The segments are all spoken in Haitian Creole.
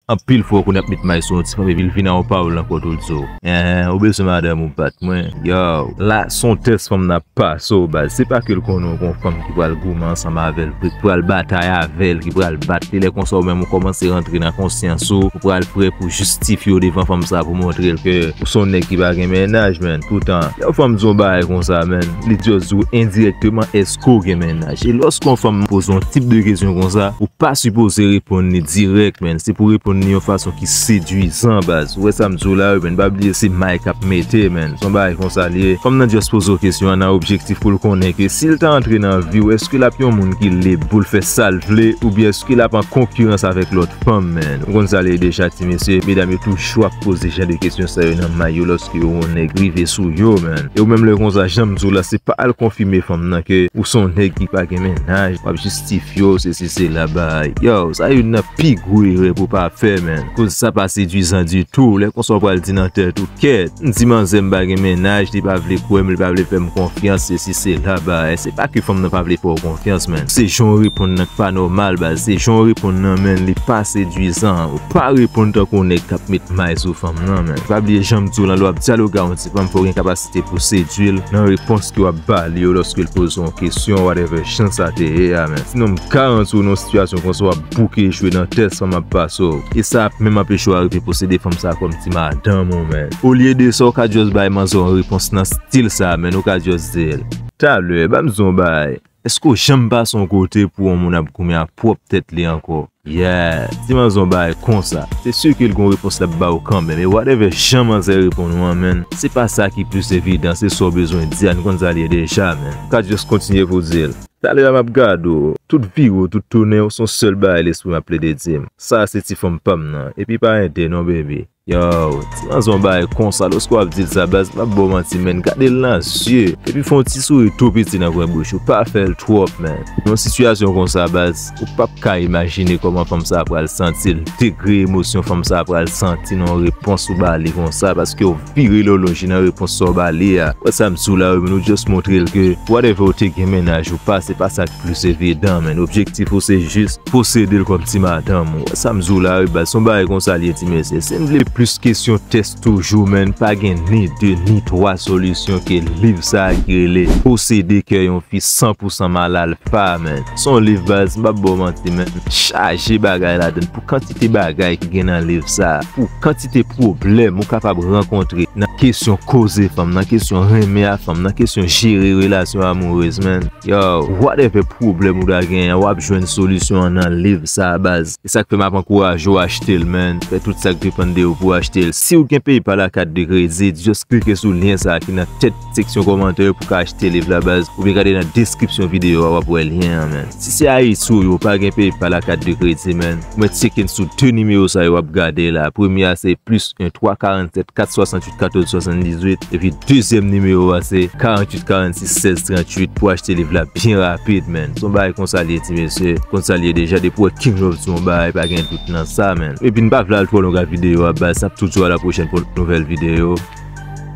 Anpil fwa ou konn ap met may sou yon ti fanm epi l vin nan yon pawòl nan kò tout zo. Enhen ou bezwen madanm ou bat mwen yow. La son tès fanm nan ap pase w baz se pa ke l konnen w gon fanm ki pral goumen ansanm avè l vre ki pral batay avè l ki pral bat li lè konsa ou menm ou kòmanse rantre nan konsyans ou ou pral prè pou jistifye w devan fanm sa pou montre l ke ou son nèg ki pa gen mennaj menn poutan lè yon fanm di w yon bagay konsa menn li just di w endirèkteman èske ke w gen mennaj. E lòske yon fanm poze yon tip de kesyon konsa, ou pa sipoze reponn li dirèk menn. Se pou w reponn li yon fason ki sedwizan baz. Ou wè sa m di w la wi menn. Pa bliye se may k ap mete menn. Se yon bagay konsa li ye. Fanm nan just poze w kesyon an nan objektif pou l konnen ke si l ta antre nan vi w èske l ap yon moun ki lib pou l fè sa l vle oubyen èske l ap an konkirans avèk lòt fanm menn. Ou konn sa l ye deja ti mesye. Medam yo tou. Chou ap poze jan de kesyon sa yo nan may yo lòske yo wè nèg rive sou yo man. E ou menm lè konsa janm diw la se pa al konfime fanm nan ke ou son nèg ki pa gen mennaj wap jistifyew sesi sela bay yow sa youn nan pi gwo erè pou pa fè man koz sa pa sedwizan ditou lè konsa ou pral di nan tèt ou kèt m di manzè m pa gen mennaj li pa vle kwèm li pa vle fèm konfyans sesi sela bay se pa ke fanm nan pa vle fèw konfyans man se janw reponn nan k pa nòmal baz se janw reponn nan man li pa sedwizan. Pa reponn tankou yon nèg kap met may sou fanm nan men pa bliye janm diw lan lè wap dyaloge ak yon ti fanm fòw gen kapasite pouw sedwil nan repons ke wap bali yo lòskel pozew yon kesyon ou whatever jan sa te ye a men sinon m garantiw nan yon sitiyasyon konsa wap bouke jwe nan tès fanm ap pasew e sa ap menm anpechew arive posede fanm sa kòm ti madanm ou men olye de sa ou ka just bay manzè yon repons nan stil sa menn ou ka just dil. Talè banm di w yon bagay Eske w janm pase yon kote pou yon moun ap goumen ak pwòp tèt li ankò? Yeah! Si manzè w bay konsa, se sur ke l gen yon repons l ap ba w kanmenm e whatever jan manzè reponn ou an menn, se pa sa ki plis evidan, se sa w bezwen di a, nou konn sa l ye deja menn. Ka just kontinye pou w di l, Talè a m ap gade w, tout vire w, tout tounen w, se yon sèl bagay lespri m ap plede di m, sa a se ti fanm pa m nan, epi pa ede non baby. Yow ti manzon bay konsa loske wap dil sa baz map baw manti menn gadel nan zye epi fon ti souri tou piti nan kwen bouch ou pa fèl twòp menn nan yon sitiyasyon konsa baz ou pap ka imajine kòman fanm sa pral santil degre emosyon fanm sa pral santi nan yon repons ou bali konsa paskew vire lè w lonje nan repons sa w bali a wè sam diw la wi menn ou just montrel ke whatever ou te gen mennaj ou pa se pa sak plis evidan menn objektif ou se jis Posedel kòm ti madanm ou wè sam diw la wi baz son bagay konsa liye ti mesye sim vle plis kesyon tès toujou menn pa gen ni 2 ni 3 solisyon ke liv sa ki rele posede kè yon fi san pou san mal alfa menn son liv baz mpap baw manti menn chaje bagay ladann pou kantite bagay ki gen nan liv sa pou kantite pwoblèm ou kapab rankontre nan kesyon koze fanm nan kesyon renmen a fanm nan kesyon jere relasyon amourez menn. Yow, whatever pwoblèm ou ta gen an wap jwenn solisyon an nan liv sa a baz. E sak fè map ankouraje w achte l man. Fè tout sak depann de ou pou w achte l. Siw gen PayPal ak kat de kredit, just klike sou lyen sa a ki nan tèt seksyon kòmantè yo pou w ka achte liv la baz. Oubyen gade nan deskripsyon videyo a wap wè lyen an man. Si se Ayiti ou ye ou pa gen PayPal ak kat de kredit man, ou mèt tyeke n sou 2 nimewo sa yo wap gade la a. Premye a se +1 3 47 4 68 1. 14 78 epi dezyèm nimewo a se 48 46 16 38 pou achte liv la byen rapid menn son bagay konsa li ye ti mesye konn sa li ye deja depi w wè king love sou yon bagay pa gen dout nan sa menn epi n pa vle al twò long ak videyo a baz n ap toujou a la pwochèn pou yon nouvèl videyo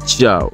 tchaw.